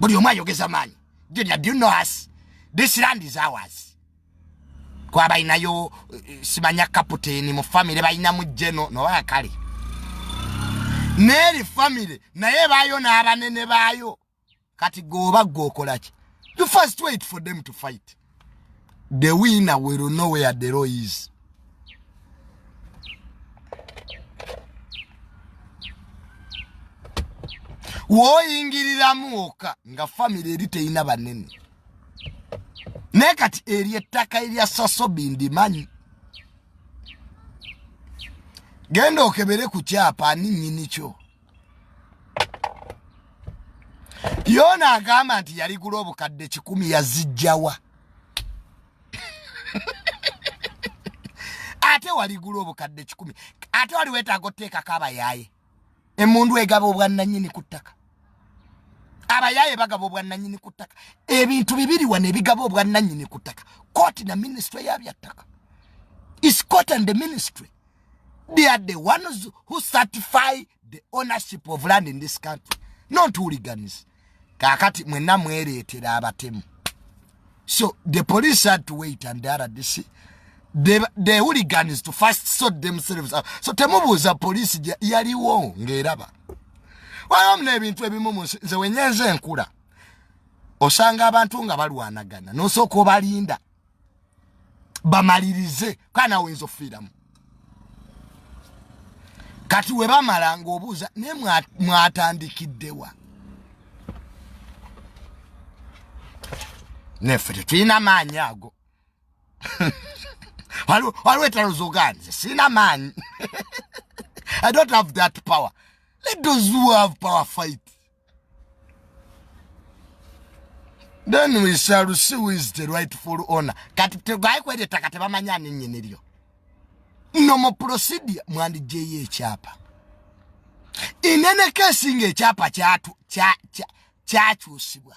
buli omu ayogeza maanyi junior do you know us this land is ours kuba balinayo eh, simanya kaputeni mu famire balinamu jeno noba kale neeri famire naye baayo n'abanene baayo kati gweoba gweokolaki you first wait for them to fight the winner will know where the law is woyingiriramu oka nga famire eri teyina banene naye kati eri ettaka erya sasobi ndimanyi genda okebere ku kyapa ani nyinikyo yona agamba nti yaligula obukadde kikumi yazijjawa ate waligula obukadde kikumi ate wali wetaaga oteekako abayaaye emundu egaba obwannanyini ku ttaka abayaaye bagaba obwannanyini ku ttaka ebintu bibiri wano ebigaba obwannanyini ku ttaka kooti na minisitule yabyattaka is court and the ministry they are the ones who certify the ownership of land in this country not hooligans kakati mwena mweretera abatemu so the police had to wait and the rdc the, the hooligans to first sort themselves out so temubuuza police yaliwo ngaeraba wayo muna ebintu ebimu munsi nze wenyenze enkula osanga abantu nga balwanagana nosooka obalinda bamalirize kaa nawe oyinza okufiiramu kati we bamala ng'obuuza naye mwatandikiddewa neffe tetulina maanyi ago waliwo etalo zoganze sirina maanyi i don't have that power let those who have power fight then we shall see who is the rightful owner kati tegaye kweli taka tebamanyi ani nyini lyo no mo procedure mwandi jeye chapa inene kesi nge chapa chatu cha cha cha chusibwa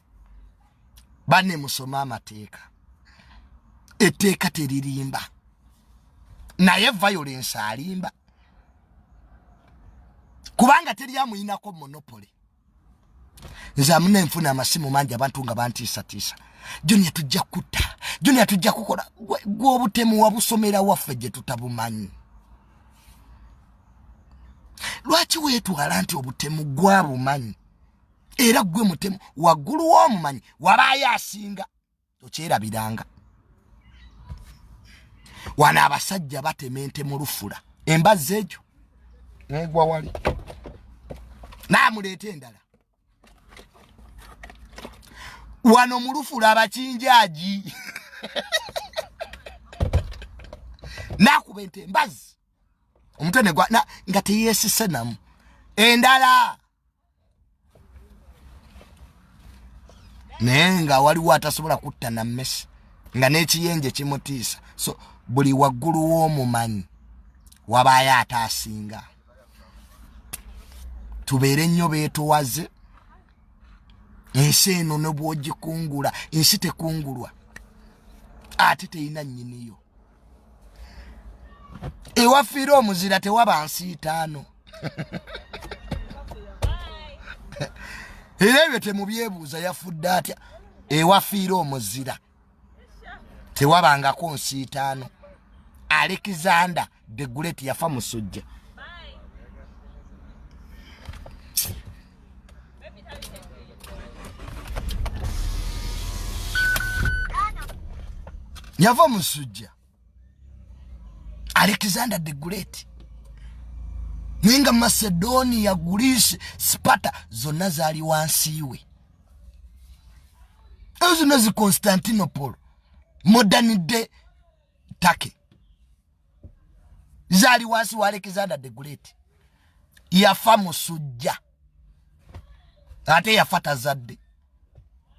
bane musome amateeka etteeka teririmba naye violence alimba kubanga teri amuyinako monopole nze amuna enfuna amasimu mangi abantu nga bantiisatiisa junia tujja kutta junia tujja kukola gwobutemu wabusomera waffe gye tutabumanyi lwaki weetwala nti obutemu gwabumanyi era gwe mutemu waggulu w'omumanyi wabaayo asinga okyerabiranga wano abasajja batema ente mu lufula embazzi egyo negwa wali naamuleeta endala wano mu lufula abakinjaagi nakuba ente embazzi omutwe negwa nga teyesise namu endala naye nga waliwo atasobola kutta na mmesi nga n'ekiyenje kimutiisa so buli waggulu w'omumanyi wabaayo ate asinga tubeere nnyo beetowaze ensi eno ne bwogikungula ensi tekungulwa ate terina nnyiniyo ewafiira omuzira tewaba nsi itaano era ebyo temubyebuuza yafudde atya ewafiira omuzira tewabangako nsi itaano alexander the great yafa musujja yava omusujja alexander the great naye nga macedonia greece sipata zonna zaali wansi we ezo zonna zi constantinopol modern day turkey zaali wansi wa alexander the great yafa musujja ate yafa tazadde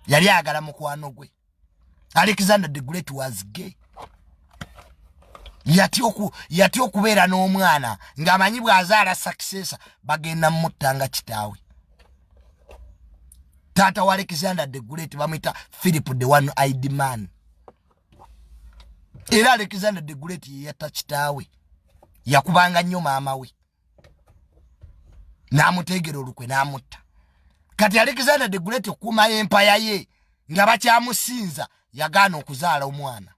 yali ayagala mukwano gwe alexander the great was gay yatya okubeera n'omwana ng'amanyi bw'azaala sakisesa bagenda mutta nga kitaawe taata wa alexander the great bamwita philip the one id man era alexander the great yeyatta kitaawe yakubanga nnyo maama we n'amuteegera olukwe n'amutta kati alexander the great okuuma y'empaya ye nga bakyamusinza yagaana okuzaala omwana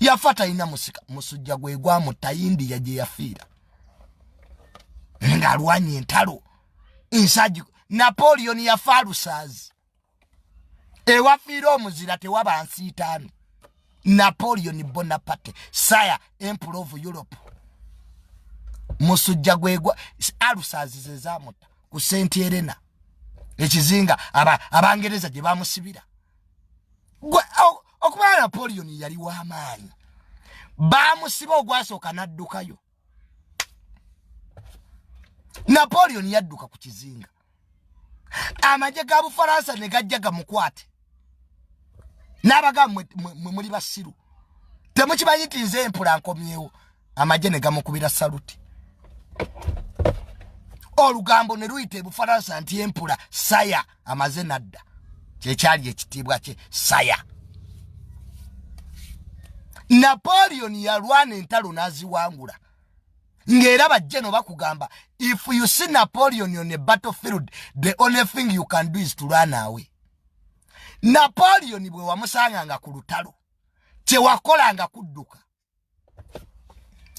yafa talina musujja gwe gwamu tayindiya gye yafiira ng'alwanya entalo ensaji napoleon yafa alusaazi ewafiira omuzira tewaba nsiitaani napoleon bonaparte sire emperor of europe musujja gwegwa alusazi zezamuta ku senti erena ekizinga abangereza gye bamusibira okuba napoleon yali wamaanyi bamusiba ogwasooka naddukayo napoleon yadduka ku kizinga amagye ga bufaransa ne gajja gamukwate n'abaga mwe muli basiru temukimanyi nti nze empula nkomyewo amagye ne gamukubira saluti olugambo ne luyita ebufaransa nti empula saya amaze nadda kyekyali ekitiibwa kye saya napoleon yalwana entalo n'aziwangula ng'era bajje no bakugamba if you see napoleon on a battle field the only thing you can do is to run away napoleon bwe wamusanga nga ku lutalo kyewakola nga kudduka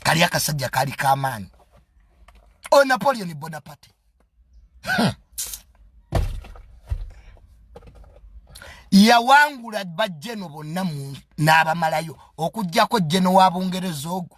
kali akasajja kali kamaanyi o oh, napoleon bonaparte hmm. yawangula bajjeno bonna n'abamalayo okugyako jjeno wa bungereza ogwo